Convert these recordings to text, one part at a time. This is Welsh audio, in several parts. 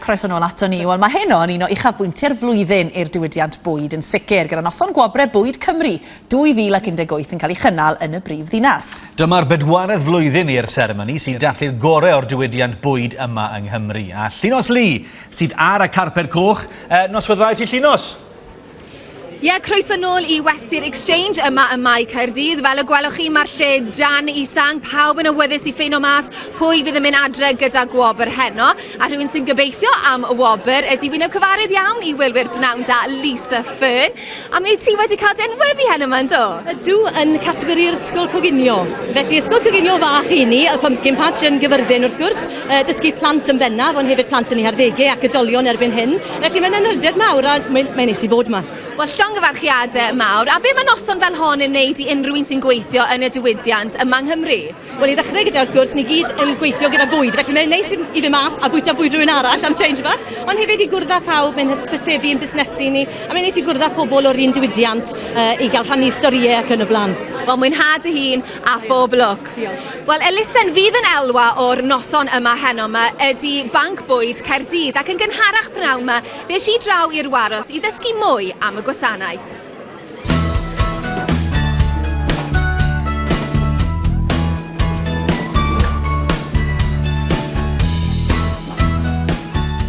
croeso nôl ato ni. Wel, mae hyn o'n un o uchafbwyntiau'r flwyddyn i'r diwydiant bwyd yn sicr, gyda noson gwobre bwyd Cymru 2018 yn cael ei chynnal yn y brif ddinas. Dyma'r bedwaredd flwyddyn i'r seremoni sy'n dathlu'r gorau o'r diwydiant bwyd yma yng Nghymru. A Llinos Lee sydd ar y carped coch, e, noswyddoedd ti Llinos? Ie, yeah, croeso nôl i Westir Exchange yma ym Mae Caerdydd. Fel y gwelwch chi, mae'r lle dan i sang, pawb yn awyddus i ffeino mas pwy fydd yn mynd adre gyda gwobr heno, a rhywun sy'n gobeithio am y wobr ydy wyneb cyfarydd iawn i wylwyr pnawn da Lisa Fern. A mi ti wedi cael dy enwebu heno yma, ynddo? Ydw, yn categori'r ysgol coginio. Felly, ysgol coginio fach i ni, y pumpkin patch yn gyfyrddin wrth gwrs, uh, dysgu plant yn bennaf, ond hefyd plant yn ei harddegau ac ydolion erbyn hyn. Felly mae'n anrhydedd mawr a mae'n mae neis i fod yma. Wel, llongyfarchiadau mawr. A be mae noson fel hon yn wneud i unrhyw un sy'n gweithio yn y diwydiant yma yng Nghymru? Wel, i ddechrau gyda, wrth gwrs, ni gyd yn gweithio gyda bwyd, felly mae'n neis i fynd mas a bwyta bwyd rhywun arall am change bach, ond hefyd i gwrdd â phawb, mae'n hysbysebu yn busnesu ni, a mae'n neis i gwrdd â pobl o'r un diwydiant uh, i gael rhannu storïau ac yn y blaen. Wel, mwynhad y hun a phob lwc. Mark. Diolch. Wel, elusen fydd yn elwa o'r noson yma heno yma ydy Banc Bwyd Caerdydd ac yn gynharach pnawn yma fe si draw i'r Waros i ddysgu mwy am y gwasanaeth.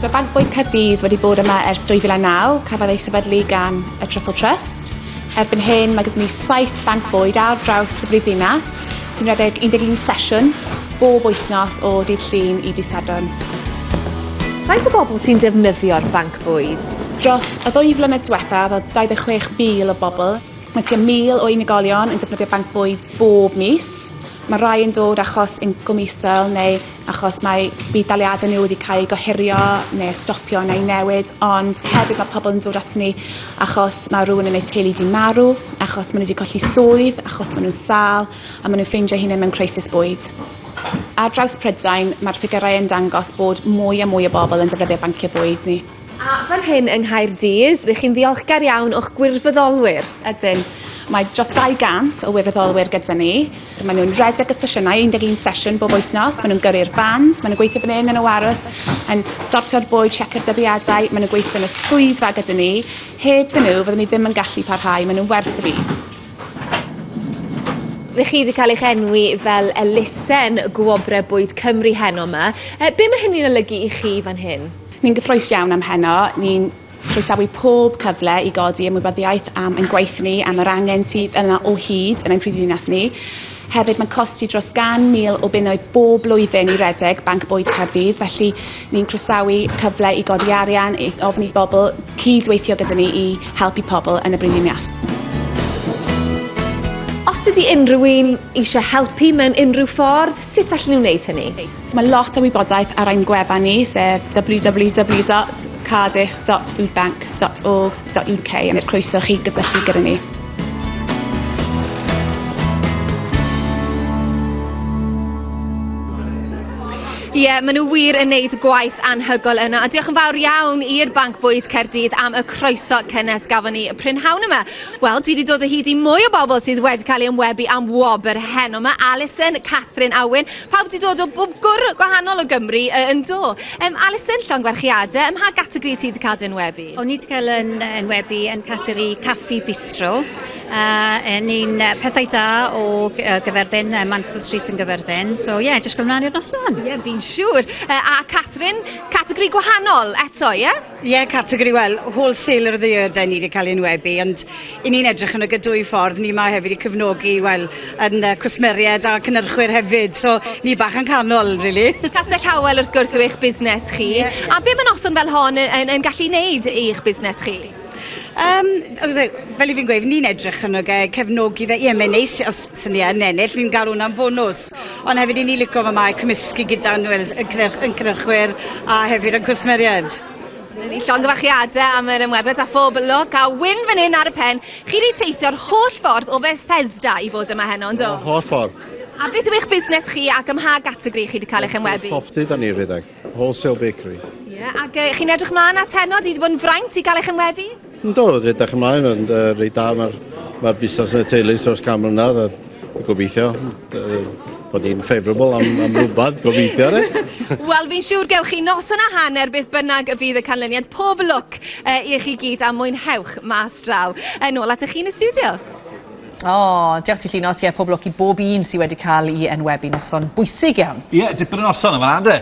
Mae Banc Bwyd Caerdydd wedi bod yma ers 2009, cafodd ei sefydlu gan y Trussell Trust. Erbyn hyn mae gyda ni 700 bwyd ar draws y brifddinas sy'n rhedeg 11 sesiwn bob wythnos o dydd Llun i dydd Sadwrn. Faint o bobl sy'n defnyddio'r banc bwyd? Dros y ddwy flynedd diwethaf oedd 26,000 o bobl. Mae tua 1,000 o unigolion yn defnyddio banc bwyd bob mis. Mae rhai yn dod achos incwm isel neu achos mae budd-daliadau nhw wedi cael eu gohirio neu stopio neu newid, ond hefyd mae pobl yn dod at ni achos mae rhywun yn eu teulu wedi marw, achos maen nhw wedi colli swydd, achos maen nhw'n sâl a maen nhw'n ffeindio hunain mewn crisis bwyd. Ar draws Prydain, mae'r ffigyrau yn dangos bod mwy a mwy o bobl yn defnyddio banciau bwyd ni. A fan hyn yng Nghaerdydd, rydych chi'n ddiolchgar iawn o'ch gwirfoddolwyr? Ydyn. Mae dros 200 o wirfoddolwyr gyda ni. Maen nhw'n rhedeg y sesiynau, 11 sesiwn bob wythnos. Maen nhw'n gyrru'r fans, maen nhw'n gweithio fan hyn yn y warws, yn sortio'r bwyd, siecio'r dyddiadau, maen nhw'n gweithio yn y swyddfa gyda ni. Heb dyn nhw, fyddwn ni ddim yn gallu parhau, maen nhw'n werth y byd. Rych chi wedi cael eich enwi fel elusen Gwobrau Bwyd Cymru heno yma. E, be mae hynny'n olygu i chi fan hyn? Ni'n gyffrous iawn am heno. Ni'n croesawu pob cyfle i godi ymwybyddiaeth am ein gwaith ni, am yr angen sydd yna o hyd yn ein prifddinas ni. Hefyd, mae'n costi dros 100,000 o bunnoedd bob blwyddyn i redeg Banc Bwyd Caerdydd, felly ni'n croesawu cyfle i godi arian, i ofyn i bobl cyd-weithio gyda ni i helpu pobl yn y brifddinas. Os ydy unrhyw un eisiau helpu mewn unrhyw ffordd, sut allen nhw wneud hynny? So mae lot o wybodaeth ar ein gwefan ni sef www.cardiff.foodbank.org.uk a mae'r croeso chi gysylltu gyda ni. Ie, yeah, maen nhw wir yn neud gwaith anhygoel yna. A diolch yn fawr iawn i'r Banc Bwyd Caerdydd am y croeso cynnes gafon ni y prynhawn yma. Wel, dwi wedi dod o hyd i mwy o bobl sydd wedi cael ei ymwebu am wobr heno. Mae Alison, Catherine Awen, Pawb wedi dod o bob gwr gwahanol o Gymru uh, yn do. Um, Alison, llongwerchiadau, ym mha gategori ti wedi cael dy enwebu? O'n i wedi cael yn enwebu yn categori caffi bistro. Uh, yn un uh, pethau da o uh, gyferddyn, uh, Mansell Street yn gyferddyn. So ie, yeah, jyst gwneud i'r noson. Ie, yeah, fi'n siŵr. Uh, a Catherine, categori gwahanol eto, ie? Yeah? Ie, categori, wel, Wholesaler of the Year dyn ni wedi cael ei enwebu, ond i ni'n edrych yn y gydwy ffordd, ni mae hefyd i cyfnogi, wel, yn uh, cwsmeriaid a cynnyrchwyr hefyd, so ni bach yn canol, really. Castell Howell, wrth gwrs, yw eich busnes chi, yeah. a be mae noson fel hon yn, yn, yn gallu wneud i'ch busnes chi? Um, fel i fi'n gweud, ni'n edrych yn oge cefnogi fe. Ie, mae'n neis os sy'n ni yn ennill, ni'n gael hwnna'n bonus. Ond hefyd i ni licio fy mae cymysgu gyda nhw'n yn cynrychwyr a hefyd yn cwsmeriaid. Dyna ni, llongyfarchiadau am yr ymwebyd a phob lwc a wyn fan hyn ar y pen. Chi wedi teithio'r holl ffordd o Fethesda i fod yma heno, ynddo? O, holl ffordd. A beth yw eich busnes chi ac ymha gategori chi wedi cael eich ymwebu? Property da ni rhedeg. Wholesale Bakery. Ie, yeah, ac uh, chi'n edrych mlaen at heno, di wedi bod yn fraint i gael eich ymwebu? Yn do, rydych ymlaen, ond uh, rei da, mae'r ma busnes yn y teulu dros cam mlynedd, a gobeithio bod ni'n favourable am, am rhywbeth, gobeithio, re? Wel, fi'n siŵr gewch chi nos yna hanner beth bynnag y fydd y canlyniad. Pob lwc uh, i chi gyd a mwynhewch mas draw. Yn ôl at y chi'n y studio. O, oh, diolch ti Llinos, ie, pob lwc i bob un sydd wedi cael i enwebu noson bwysig iawn. Ie, yeah, dipyn o noson yma, Ande.